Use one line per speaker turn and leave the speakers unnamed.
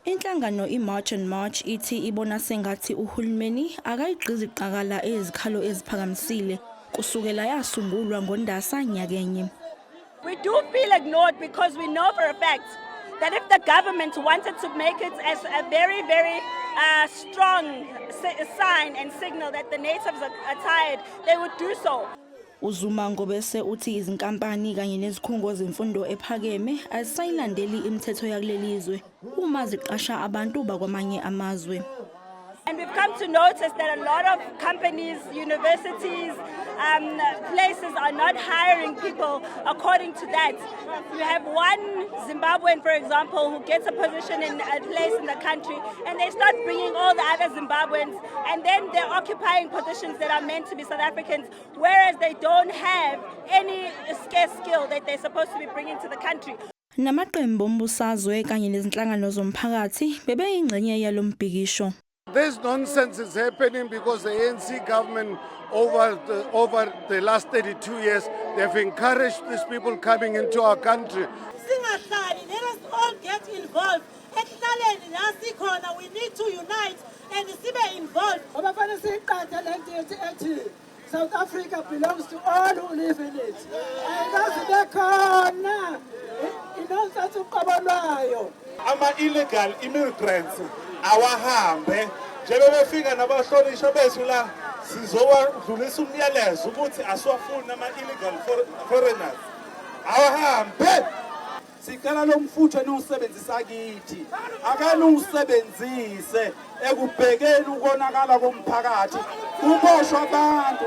Inhlangano iMarch and March ithi ibona sengathi uhulumeni akayigqizi qakala ezikhalo eziphakamisile kusukela yasungulwa ngoNdasa nyakenye. We do
feel ignored because we know for a fact that if the government wanted to make it as a very very uh, strong sign and signal that the natives are, are tired, they would do so. UZuma
ngobese uthi izinkampani kanye nezikhungo zemfundo ephakeme azisayilandeli imithetho yakuleli zwe uma ziqasha abantu bakwamanye amazwe. And we've
come to notice that a lot of companies, universities, um, places are not hiring people according to that. You have one Zimbabwean, for example, who gets a position in a place in the country, and they start bringing all the other Zimbabweans, and then they're occupying positions that are meant to be South Africans. Whereas they don't have any scarce skill that they're supposed to be bringing to the country. Namaqembu
ombusazwe kanye nezinhlangano zomphakathi bebeyingxenye yalombhikisho. This
nonsense is happening because the ANC government over the, over the last 32 years they've encouraged these people coming into our country. Singahlali,
let us all get involved. Ekuhlaleni la sikhona we need to unite. and sibe involved ngoba fanele siyiqathe
le nto ethi ethi South Africa belongs to all who live in it ayikazi bekhona inonsense uqobo lwayo ama-illegal
immigrants awahambe njebebefika nabahlonishwa bethu la sizowadlulisa umyalezo ukuthi asiwafuni ama-illegal foreigners awahambe
Sicela lo mfutho eniwusebenzisa kithi akaniwusebenzise ekubhekeni ukonakala komphakathi kuboshwa abantu